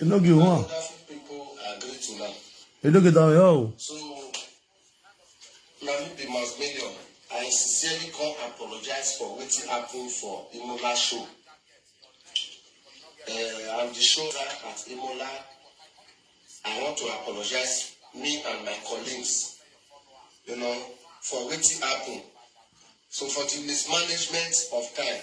You no get one. You no get down yo. So, Nami be mass media. I sincerely come apologize for what happened for Imola show. Uh, I'm the show at Imola. I want to apologize, me and my colleagues, you know, for what happened. So for the mismanagement of time,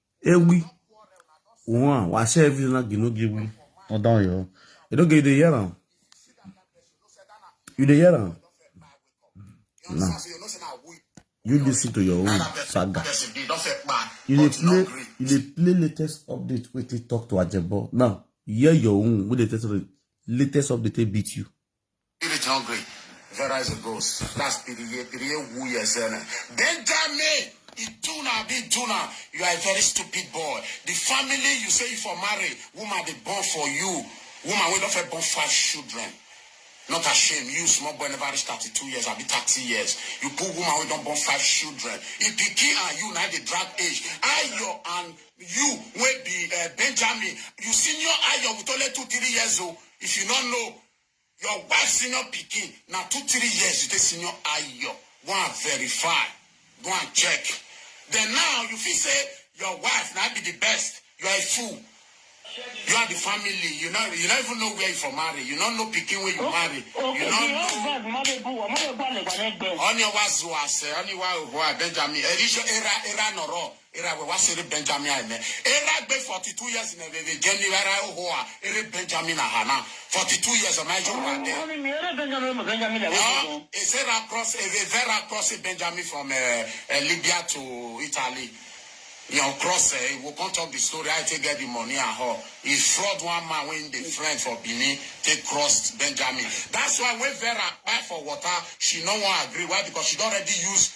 Ewi. One. Why say every night you no give me? No down yo. You don't get the hear am. You dey hear am? No. You listen to your own saga. You dey play you dey play latest update wey take talk to Ajebo. Now, hear your own wey dey tell you latest update take beat you. Spirit hungry. Verizon goes. That's PDA. PDA woo yesene. Benjamin. Ituna abi Ituna, you are a very stupid boy. The family you say you for marry, woman they born for you. Woman wey don first born five children. Not ashamed. You small boy never reach 32 years, I be 30 years. You poor woman wey don born five children. If pikin and you now dey drag age, Ayo and you wey be uh, Benjamin, you senior Ayo with only two three years old. If you don't know, Your wife senior pikin na two three years you take senior ayo go and verify go and check then now you fit say your wife na be the best you are a fool you are the family you no you no even know where you for marry you no know pikin wey you marry you no know ọni wa zu ase ọni wa oho abenjami erisho era era nọrọ Era we wa se re Benjamin a eme. Era gbe 42 years ne veve je mi era e ho a ere Benjamin a ha na. 42 years o ma ejo wa de. Oni mi ere Benjamin o me Benjamin le we Eọ, dodon. e se ra cross e ve ve ra cross e Benjamin from e e Libya to Italy. Yen o cross e, e wo con talk the story how e take get the money and ho. E fraud one man wey him dey friend for Benin take crossed Benjamin. That's why when Vera kpai for water, she no wan agree. Why? Because she don already use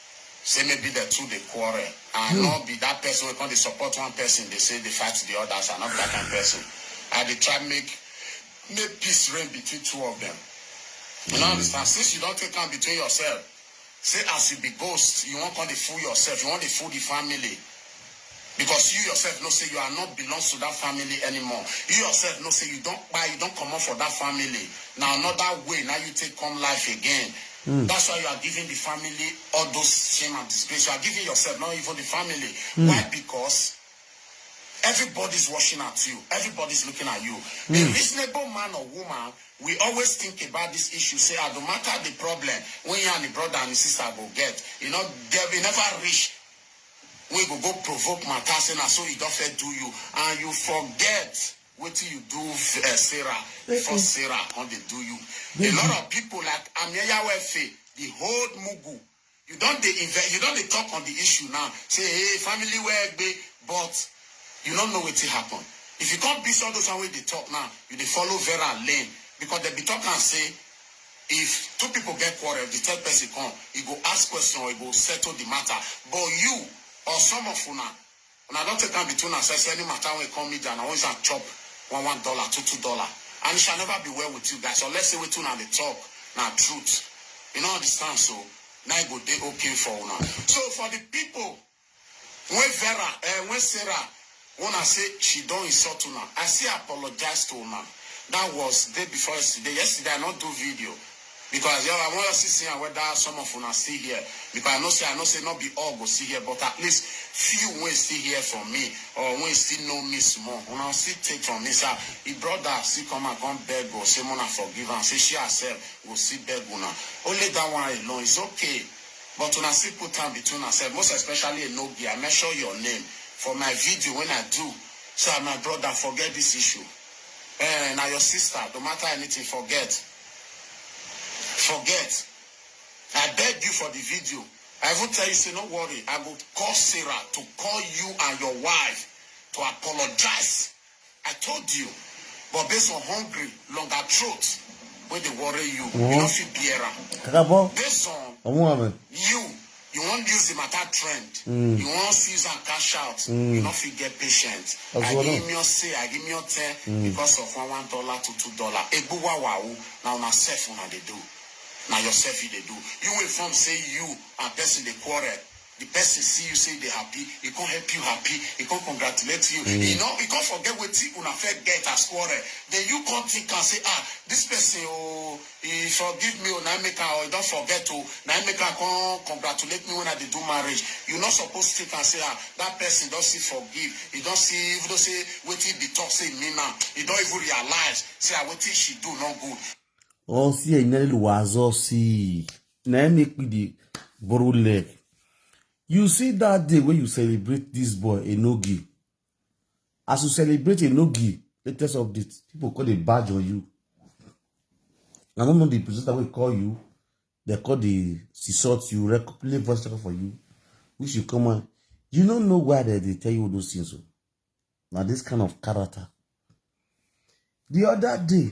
Say maybe dem two dey quarrel, I no be that person wey come dey support one person dey say dey fight the others, I no be that kind person, I dey try make make peace reign between two of them, you no understand, since you don take am between yourself say as you be ghost you wan come dey fool yourself, you wan dey fool the family. Because you yourself know say you are not belongs to that family anymore, you yourself know say you don kpai, you don comot for that family, na another way na you take come life again, that's why you are giving the family all those shame and disgrace, you are giving yourself, not even the family, why because everybody is watching at you, everybody is looking at you, a reasonable man or woman will always think about this issue say ah no matter the problem wey him and him brother and him sister go get, e no get, e never reach wey go go provoke matter say na so Idofe do you and you forget wetin you do Sarah before Sarah come dey do you. A lot of people like Amienyawo Efe dey hold mugu, you don dey inve you don dey talk on the issue now say hey family wey egbe but you no know wetin happen. If you come beat all those one wey you dey talk now, you dey follow Vera lane because dem be talk am say If two pipo get quarrel, di third pesin come, e go ask question or e go settle di mata. But you or some of una, una don take am between unasef say any mata wey come media, na always am chop one one dollar, two two dollar. And it shall never be well with you guys unless say wetin una dey tok na truth. You no understand so? Na e go dey okay for una. So for di pipo. When Vera eh when Sarah una say she don insult una I still apologize to una that was day before yesterday yesterday I no do video because I just I wan just see see am whether some of una still here because I know say I know say no be all go still here but at least few wey still here from me or wey still know me small una go still take from me sha e brother still come out come beg oo say make una forgive am say she herself go still beg una only that one alone is okay But una still put am between una sef most especially Enobi, I mention your name for my video wen I do so I my brother forget this issue ehn na your sister no matter anything forget forget I beg you for the video I even tell you say no worry I go call Sarah to call you and your wife to apologize I told you but based on hungry longer throat wey dey worry you you no fit bear am kakabọ based on ọmú àmì you you wan use the matter trend mm. you wan use am cash out mm. you no fit get patient agimio say agimio ten mm. because of one one dollar to two dollar egbuwawawu na una sef una dey do na yourself you dey do you wey form say you and person dey quarrel The person see you say you dey happy, e come help you happy, e come congratulate you, e no e come forget wetin una first get as quarrel, then you come think am say ah this person oh e forgive me oh na im make am or e don forget oh na im make am come congratulate me when I dey do marriage, you no suppose think am say ah that person don see forgive, e don see even though say wetin e be talk say e mean am, e don even realize say ah wetin she do no good. Or see enye lwazo see. na im make me dey borrow leg you see that day wey you celebrate this boy enogi as you celebrate enogi latest update people call dey badge on you na no know the presenter wey call you dem call dey insult you record play voice record for you which you come out you no know why dem dey tell you those things o na this kind of character the other day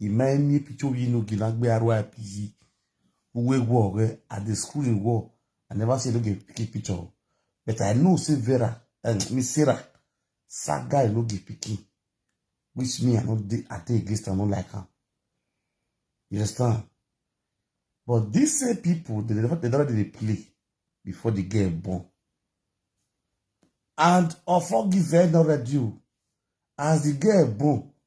Ima emi epicho yi no gina gbe aro apizi. Uwe go re at the school in go. I never see no get picky picture. But I know say Vera and um, Miss Sarah, sad guy no get picky. Which me I no dey I dey against I no like her. You understand? But these same people, they never they never did play before the girl born. And Ofo give her no radio. As the girl born,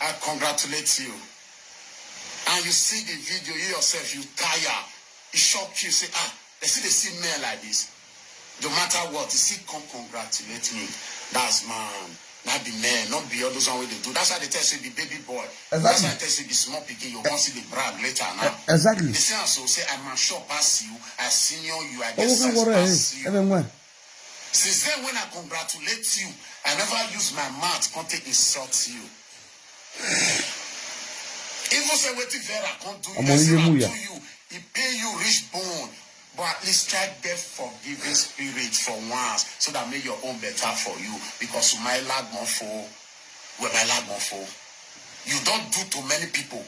I congratulate you and you see the video you yourself you tire e shock you say ah dem still dey see men like this no matter what you still come congratulate me that's man na be men no be all those one wey dey do that's why I dey tell you say you be baby boy exactly. that's why I tell you say you be small pikin you come see the brag later now e, exactly. you see am so say I mature pass you I senior you I get sense pass you. Since then when I congratulate you, I never use my mouth come take insult you. Even say wetin Vera come do you, Ọmọ person Iyemuya. na do you, e pay you reach bone. But at least try get forgiving spirit for once so that make your own better for you because you might lag one for, well, my lag one for. You don do to many people.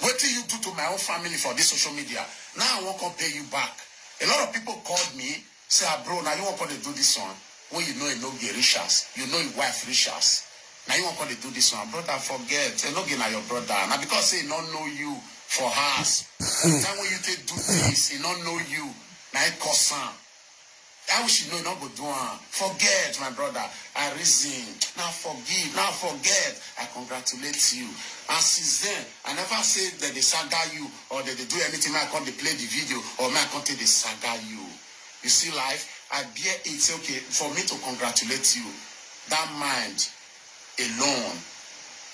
Wetin you do to my own family for this social media, now I wan come pay you back. A lot of people called me say ah bro na you wan come dey do this one wey you know enoge reach as you know him wife reach as na you wan come dey do this one brother forget enoge na your brother na because say he no know you for house the time wey you take do things he no know you na him cause am that which he know he no go do am forget my brother I reason na forgive na forget I congratulate you and since then I never say dem dey saga you or dem dey do anything make I come dey play the video or make I come take dey saga you you see life I bear it say okay for me to congratulate you that mind alone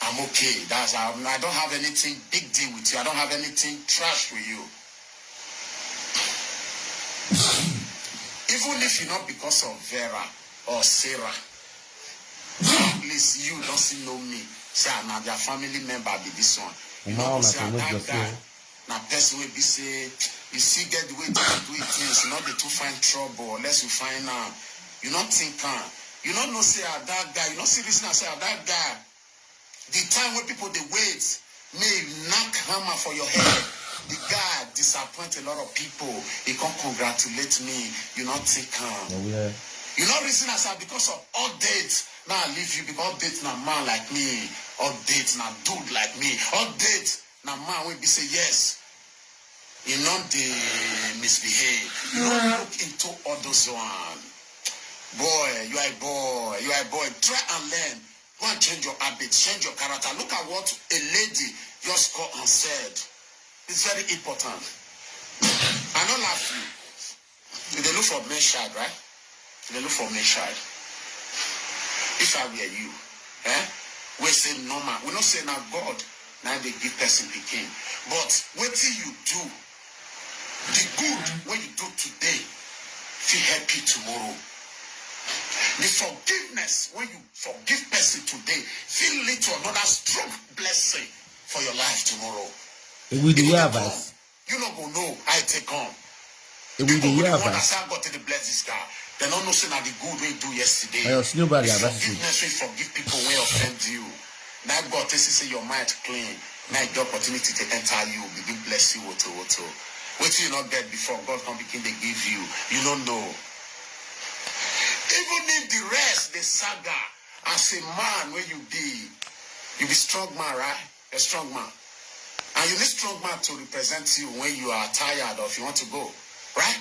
I'm okay that's how I don't have anything big deal with you I don't have anything trash with you even if you not because of Vera or Sarah. Please you don see know me say I na their family member be this one. You Uma no know una say I tolo that jọsẹ guy o. na person wey be say you see get the way to dey do him things you no dey too find trouble unless you find am you no think am you no know say I that guy you no see reason am say I that guy The time wey people dey wait make he knack hammer for your head, the guy disappoint a lot of people, he come congratulate me, you no take am. Na where. You no reason as I because of update now I leave you because update na man like me, update na dude like me, update na man wey be say yes he no dey misbehave, you no look into all those one. Boy you are a boy, you are a boy, try and learn Go and change your habit, change your character, look at what a lady just call and said, it's very important. I no laugh you, you dey look for male child right? You dey look for male child. If I were you, eh? We say normal, we no say na God na dey give person pikin but wetin you do Di good wey you do today fit help you tomorrow. Di forgiveness wey you forgive pesin today fit lead to anoda strong blessing for your life tomorrow. E go dey hear advice. You no go know how e take come. E go dey hear advice. That's how God take dey bless this guy. They no know say na the good wey he do yesterday. Ayo, snow bag, the forgiveness wey forgive people wey offend you. Na God take see say your mind clean na e di opportunity take enter you begin bless you woto woto. Wetin you no get before God come begin dey give you, you no know. Even if di rest dey saga as a man wey you be, you be strong man right? You're strong man and you need strong man to represent you when you are tired or if you want to go right?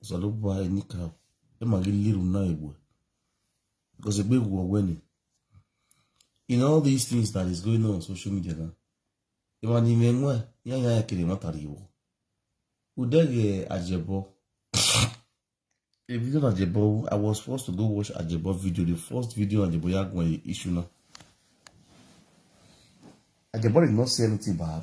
salo bɔ ayi ni ka ema gi liru na ebwe because egbe wu ọwẹ ni in all these things that is going on on social media na ema ni me nwa ya ya ekele ma tari wo udege ajebo a video on ajebo i was forced to go watch ajebo video the first video on ajebo ya gwa issue na ajebo did not say anything bad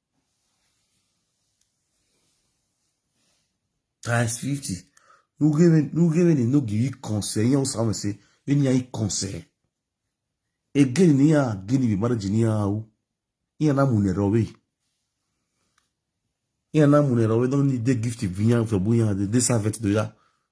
times fifty nugebe ni no give you concern yan samu se we ni yan concern again ni ya gini bi marriage ni ya o yan na mu ne rowe yan na mu ne rowe don ni de gift bi yan fe bu yan de de servant do ya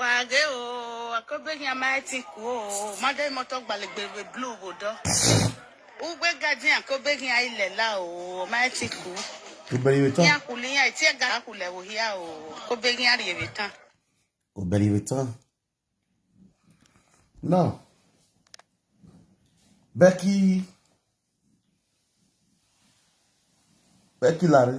wage o akobe nya ma ti ku o made moto gbalegbegbe blue go do ugbe gaji akobe nya ile la o ma ti ku Obere iwe nya taa. kuli nya ti ga kule wo hia o akobe nya ri ebi tan Obere iwe taa. Now, Becky Becky Larry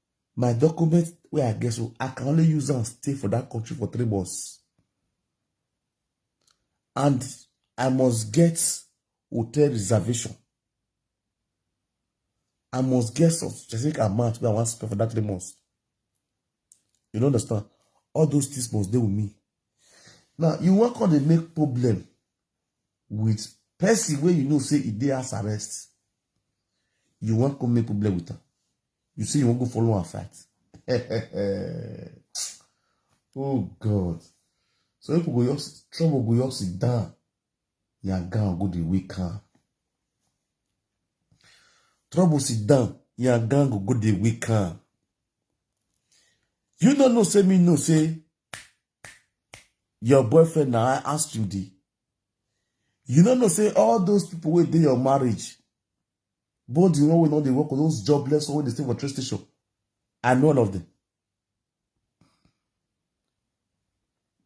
my document wey i get so i can only use am stay for that country for three months and i must get hotel reservation i must get some specific amount wey i wan spend for that three months you no understand all those things must dey with me now you wan come dey make problem with person wey you know say e dey house arrest you wan come make problem with am you say you wan go follow am fight oh god so people go just trouble go just sit down yangan go dey wake am trouble sit down yangan go go dey wake am you no know say me know say your boyfriend na i ask you the you no know say all those people wey dey your marriage Both the one wey no dey work, those jobless one wey dey stay for train station, I know all of them.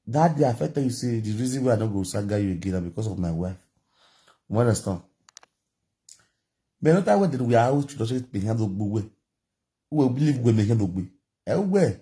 That day, I felt you say the reason why I don't go Saga you again because of my wife. You understand? But not that way that we are always to the behind the way. We believe we make the way. Everywhere.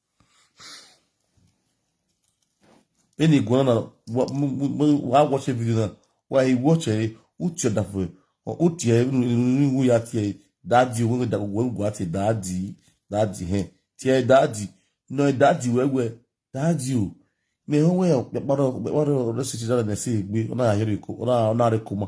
eni gwana na wa- m- m- m- wa watch a video na wa i watch e uti da fo o uti e ni wu ya ti e dadi wo da wo gwa ti dadi dadi he ti e dadi no e dadi we we dadi o me ho we pe paro pe paro re si ti da na si gbe ona ya re ko ona ona re ko ma